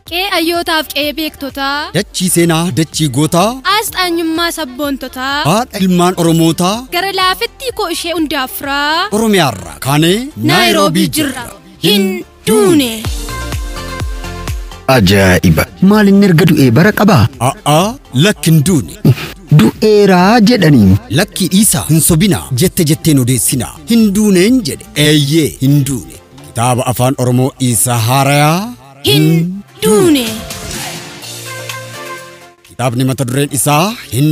Qe'ee ayyootaaf qe'ee beektotaa. Dachii seenaa dachii gootaa. Asxaanyummaa sabboontotaa. Haadha ilmaan Oromootaa. Gara laafettii koo ishee hundaafraa. Oromiyaarraa kaanee Naayiroobii jirra. Hin duune. Ajaa'iba! Maal inni erga du'ee bara qabaa? A'aa lakki hin duune. Du'eeraa jedhaniin. Lakkii dhiisaa hin sobinaa jette jetteen odeessinaa. Hin duuneen jedhe. Eeyyee hin duune. Kitaaba afaan Oromoo Iisaa Haarayaa. Hin duune. Kitaabni mata dureen isaa hin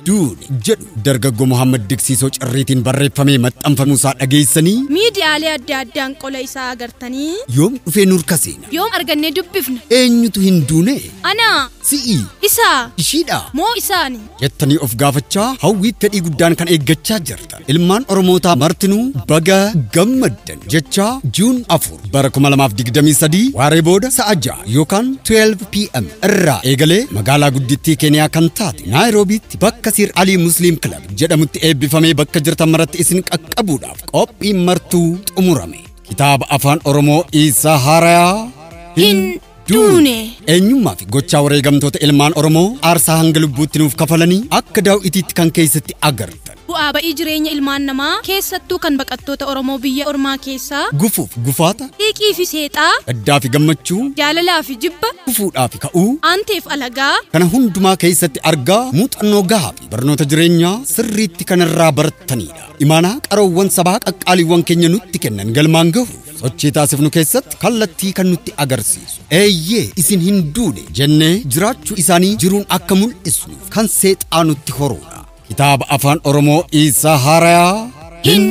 duune jedhu dargaggoo Mohaammed Diksiisoo Cirriitiin barreeffamee maxxanfamuu isaa dhageessanii Miidiyaalee adda addaan qola isaa agartanii yoom dhufee nurka seena yoom argannee dubbifna? eenyutu hin duune Anaa, si'i isaa, ishiidha moo isaani? jettanii of gaafachaa hawwii fedhii guddaan kan eeggachaa jirta. Ilmaan Oromootaa martinuu baga gammaddan jechaa Juun 4 bara 2023 waaree booda sa'a 6 yookaan 12 pm irraa eegalee magaalaa guddittii Keeniyaa kan taate Naayiroobiitti bakka Sir Alii Musliim Kilab jedhamutti eebbifamee bakka jirtan maratti isin qaqqabuudhaaf qophiin martuu xumurame. Kitaaba Afaan Oromoo Iisaa Haarayaa hin Duune. Eenyummaa fi gochaa wareegamtoota ilmaan Oromoo aarsaa hanga lubbuutti nuuf kafalanii akka daaw'itiitti kan keessatti agartan. Bu'aa ba'ii jireenya ilmaan namaa keessattuu kan baqattoota Oromoo biyya ormaa keessaa. Gufuuf gufaata. Xiiqii fi seexaa. Gaddaa fi gammachuu. Jaalalaa fi jibba. Gufuudhaa fi ka'uu. Aanteef alagaa. Kana hundumaa keessatti argaa muuxannoo gahaa fi barnoota jireenyaa sirriitti kanarraa barattaniidha. Imaanaa qaroowwan sabaa qaqqaaliiwwan keenya nutti kennan galmaan gahuuf Sochii taasifnu keessatti kallattii kan nutti agarsiisu eeyyee isin hin duune jennee jiraachuu isaanii jiruun akka mul'isnuuf kan seexaa nutti horuudha. Kitaaba Afaan Oromoo Iisaa Haarayaa hin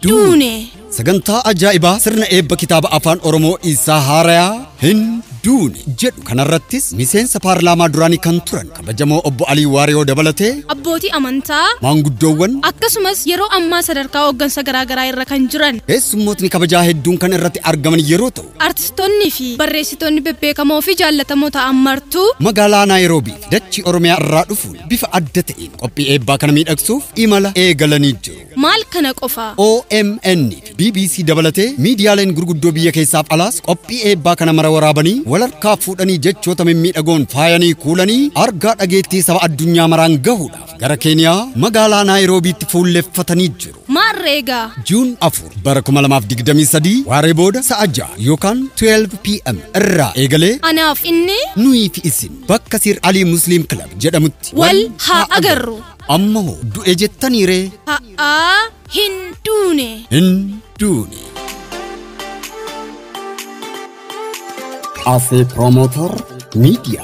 duune. Sagantaa ajaa'ibaa sirna eebba kitaaba Afaan Oromoo Iisaa Haarayaa hin duune jedhu kanarrattis miseensa paarlaamaa duraanii kan turan Kabajamoo Obbo Alii Waariyoo dabalatee abbootii amantaa, maanguddoowwan akkasumas yeroo ammaa sadarkaa hooggansa garaagaraa irra kan jiran keessummootni kabajaa hedduun kan irratti argaman yeroo ta'u artistoonnii fi barreessitoonni bebbeekamoo fi jaallatamoo ta'an martuu magaalaa Naayiroobii fi dachii Oromiyaa irraa dhufuun bifa adda ta'een qophii eebbaa kana miidhagsuuf imala eegalanii jiru. Maal kana qofa? OMN fi bbc dabalatee miidiyaaleen gurguddoo biyya keessaaf alaas qophii eebbaa kana mara waraabanii wal harkaa fuudhanii jechoota mimmiidhagoon faayanii kuulanii argaa dhageettii saba addunyaa maraan gahuudhaaf gara Keeniyaa magaalaa Naayiroobiitti fuulleffatanii jiru. Maarree egaa. Juun 4 bara 2023 waaree booda sa'a 6 yookaan 12 pm irraa eegalee Anaaf inni nuyi fi isin bakka Sir Alii Musliim Kilab jedhamutti wal haa agarru. Amma hoo du'e jettanii ree? Ha'aa hin duune. Hin duune. Asee Promoter Media.